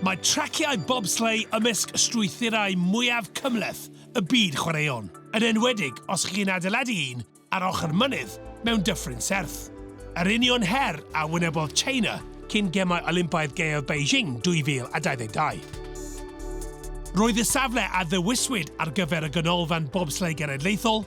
Mae traciau bobsleigh ymysg strwythurau mwyaf cymhleth y byd chwaraeon, yn enwedig os chi'n adeiladu un ar ochr mynydd mewn dyffryn serth. Yr union her a wynebodd China cyn Gemau Olympaidd Gaeaf Beijing 2022. Roedd y safle a ddewiswyd ar gyfer y Ganolfan Bobsleigh Genedlaethol,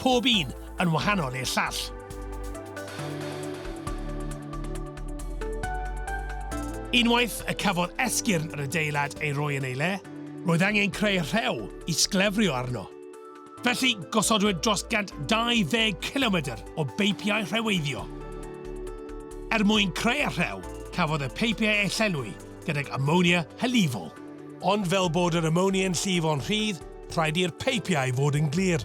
Pob un yn wahanol i'r llall. Unwaith y cafodd esgyrn yr adeilad ei roi yn ei le, roedd angen creu rhew i sglefrio arno. Felly, gosodwyd dros 120 cilomedr o beipiau rheweiddio. Er mwyn creu y rhew, cafodd y peipiau eu llenwi gydag amonia hylifol. Ond fel bod yr amonia'n llifo'n rhydd, rhaid i'r peipiau fod yn glir.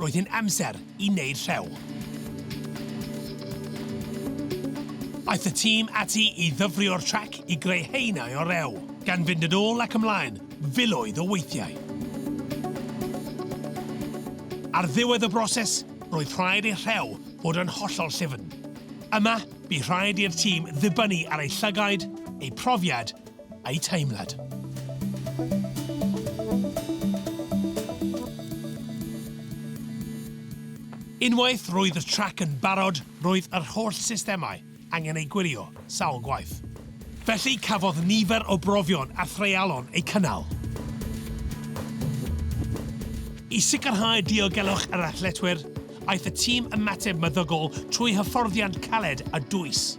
Roedd hi'n amser i wneud rhew. Aeth y tîm ati i ddyfrio'r trac i greu haenau o rew, gan fynd yn ôl ac ymlaen filoedd o weithiau. Ar ddiwedd y broses, roedd rhaid i'r rhew fod yn hollol llyfn. Yma, bu rhaid i'r tîm ddibynnu ar eu llygaid, eu profiad A'u teimlad. Unwaith roedd y trac yn barod, roedd yr holl systemau angen eu gwirio sawl gwaith. Felly cafodd nifer o brofion a threialon eu cynnal. I sicrhau diogelwch yr athletwyr, aeth y tîm ymateb meddygol trwy hyfforddiant caled a dwys.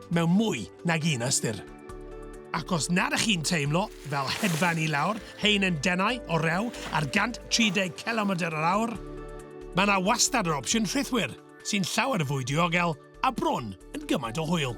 mewn mwy nag un ystyr. Ac os nad ych chi'n teimlo fel hedfan i lawr rhein yn denau o rew ar 130 cilomedr yr awr, mae yna wastad yr opsiwn rhithwir, sy'n llawer fwy diogel a bron yn gymaint o hwyl.